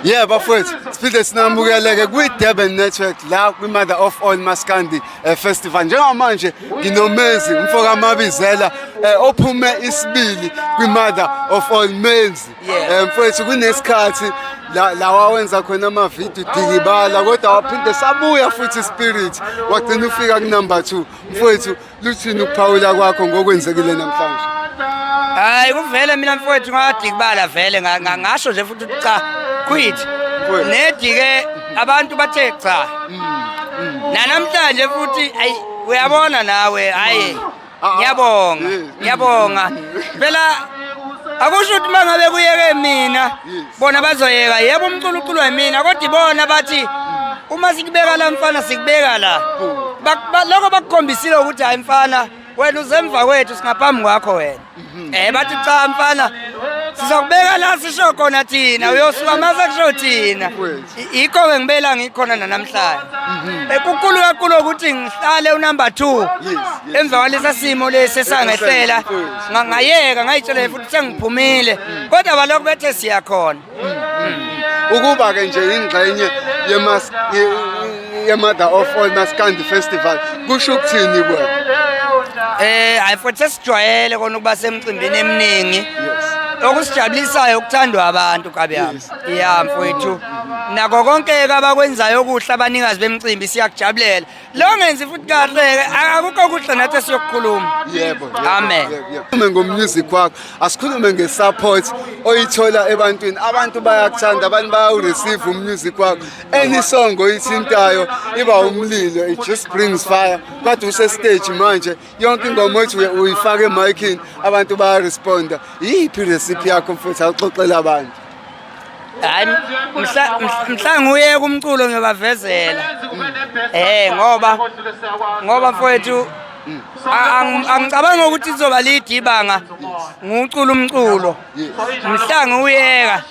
Yeah bafowethu siphinde sinamukeleke kwi-durban network la kwi-mother of all maskandi eh, festival njengamanje nginomezi umfokamabizela eh, ophume isibili kwi-mother of all menzi Yeah. Eh, mfowethu kunesikhathi la la wawenza khona amavidiyo dikibala kodwa waphinde sabuya futhi ispirit wagcina ufika kunumber two mfowethu Luthini ukuphawula kwakho ngokwenzekile namhlanje? Hayi kuvele mina mfowethu ngadikibala vele ngasho nje futhi cha quit. Nedike abantu bathe cha. Mm, mm. Nanamhlanje futhi ayi uyabona nawe hayi ah, ah. ngiyabonga ngiyabonga phela akusho ukuthi mangabe kuyeke mina bona bazoyeka yebo umculo uculwa yimina kodwa ibona bathi uma sikubeka la mfana sikubeka la lokho bakukhombisile ukuthi hayi mfana wena uzemva kwethu singaphambi kwakho wena mhm. eh bathi cha mfana sizokubeka la sisho khona thina uyosuka mase kusho thina Yikho-ke ngibe la ngikhona nanamhlanje. Mhm. Ekukulu kakhulu ukuthi ngihlale unumber 2. Emva kwalesa simo lesi esangehlela ngangayeka ngayitshela futhi sengiphumile. Mm. Kodwa balokhu bethe siya khona. Mm. Ukuba ke nje ingxenye yemas yemother of all maskandi festival kusho ukuthini kuwe? Eh, hayi futhi sesijwayele kona ukuba semcimbini eminingi. Yes. okusijabulisayo ukuthandwa abantu kabi yami ya mfowethu nako konke-ke abakwenzayo okuhle abanikazi bemcimbi siyakujabulela lo ngenzi futhi kahle-ke akukho kuhle nathi esiyokukhuluma yebo amen ume ngomusic wakho asikhulume nge-support oyithola ebantwini abantu bayakuthanda abantu bayawureceive umusic wakho any song oyithintayo iba umlilo it just brings fire kade usestage manje yonke ingoma othi uyifake emiking abantu bayaresponda yiphi recipe yakho mfethu awuxoxela abantu hayi mhla nguye kumculo ngiyobavezela eh ngoba ngoba mfowethu angicabanga ukuthi lizoba lide ibanga ngiwucula umculo mhla ngiwuyeka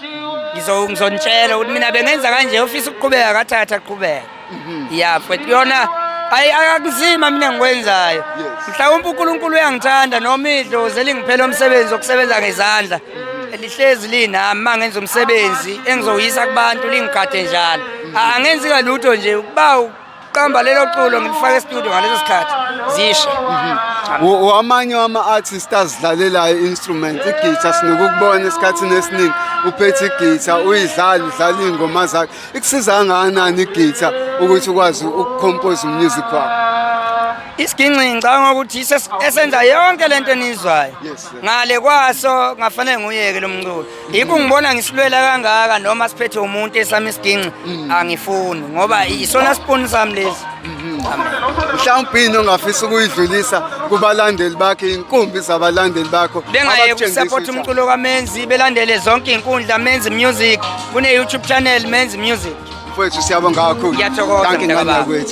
ngizonitshela ukuthi mina bengenza kanje ufisa ukuqhubeka kathatha qhubeka mhm. ya futhi kuyona ayi akakuzima mina ngikwenzayo mhlawumbe uNkulunkulu uyangithanda noma idlozi elingiphela umsebenzi wokusebenza ngezandla mhm. elihlezi linami uma ngenza umsebenzi engizowuyisa kubantu lingigade njalo mhm. angenzi kalutho nje ukuba qamba lelo culo ngilifake estudio ngaleso sikhathi zishe wamanye wama-artist azidlalelayo i-instrument igitha sinokukubona esikhathini esiningi uphethe igitha uyidlala udlala iy'ngoma zakhe Ikusiza kangakanani igitha ukuthi ukwazi ukukhompoza umusic wakho? Isiginci ngicabanga ukuthi esenza yonke lento enizwayo. Ngale kwaso ngafanele nguyeke lo mculo. Yikho ngibona ngisilwela kangaka noma siphethe umuntu esami isiginci mm. angifuni ngoba isona sipuni sami lesi. mhlawumbe into ongafisa ukuyidlulisa kubalandeli bakhe inkumbi zabalandeli bakho bengaye kusapota umculo kamenzi belandele zonke inkundla menzi music kune-youtube channel menzi music mfowethu siyabonga kakhulu Ngiyathokoza, Dankie mntaka ngane baba. kwethu